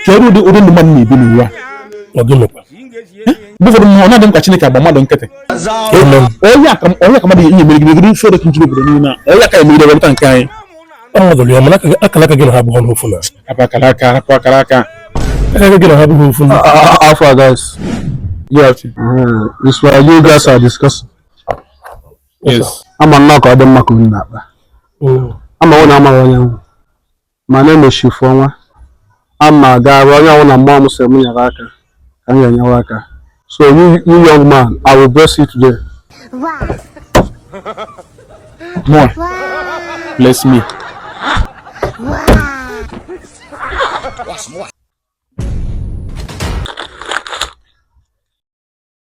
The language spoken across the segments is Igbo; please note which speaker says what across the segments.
Speaker 1: kedu ụdị ụdị ndụ mmadụ na-ebi n'ụwa
Speaker 2: mgbe
Speaker 1: ụfọdụ ma ọ na-adị m ka Chineke agba mmadụ nkịtị onye aka mmadụ ihe mere gịrị gịrị fere kụjiri obodo niile a onye aka emegide wepụta nke anyị ọnọdụrụ ya
Speaker 2: mana akara aka gị na ha abụghị ofu nna hapụ akara aka
Speaker 1: hapụ akara
Speaker 2: aka aka gị na ha abụghị ofu na how far guys
Speaker 3: yes
Speaker 1: this
Speaker 3: one you guys are discussing
Speaker 1: yes ama nnọọ
Speaker 3: ka ọ dị mma ka unu na-akpa Mm. mana unu amaghị onye m wụ mana emesịa ife ọnwa ama gaara onye ọbụla mmụọ m sị m nyere aka ka m ga-enyewa aka so you, you young man i will bless you today
Speaker 1: more bless me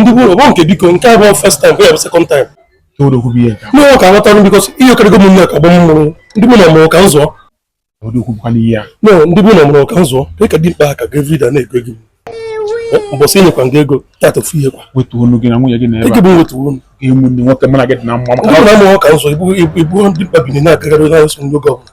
Speaker 1: ndị
Speaker 2: bụ ụlọ nke biko nke a bụ first time bụ ya bụ second
Speaker 1: time no ka aghọtara
Speaker 2: because ihe okerego m nne ka gbọ mmụrụ ndị bụ na mụrụ ka m zụọ
Speaker 1: ndị bụ na mụrụ ka
Speaker 2: m zụọ dị ka dimkpa ha ka gavrida na-ego gị mbọsị nyekwa gị ego tata ofu ihe kwa wetuo onu gị na nwunye gị
Speaker 1: na ebe bụ wetuo
Speaker 2: onu ga-enwe ndị nwoke mụ na gị
Speaker 1: dị na mma maka na mụrụ ka m zụọ
Speaker 2: ị bụ dimkpa binie na-agagharị na-eso ndị oge ọbụla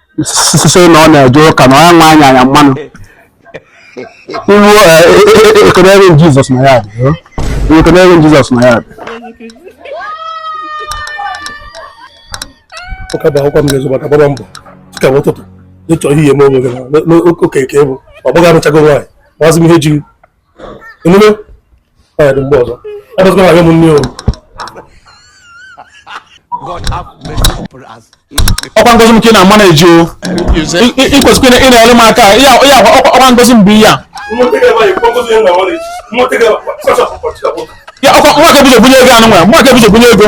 Speaker 3: sị na ọ na-eje ụka na ọ nwa anya anya mmanụ iwu ekenere jizọs na ya dị ekenere jizọs na ya dị
Speaker 2: ụka bụ akwụkwọ m ga-ezo maka gbaba mbọ dịka m ụtụtụ n'ịchọ ihe eme onwe gị nwoke nke bụ ọ bụghị arụchago nwaanyị gbazị m ihe ji emume
Speaker 1: ọkwa ngozi m ka ị na-ama na-eji o ikwesịkwa ị na-ele m aka ya ọkwa ngozi m bụ ihe a ya ọkwa nwa ka ebido bunye ego anụ nwa nwa ka ebido bunye ego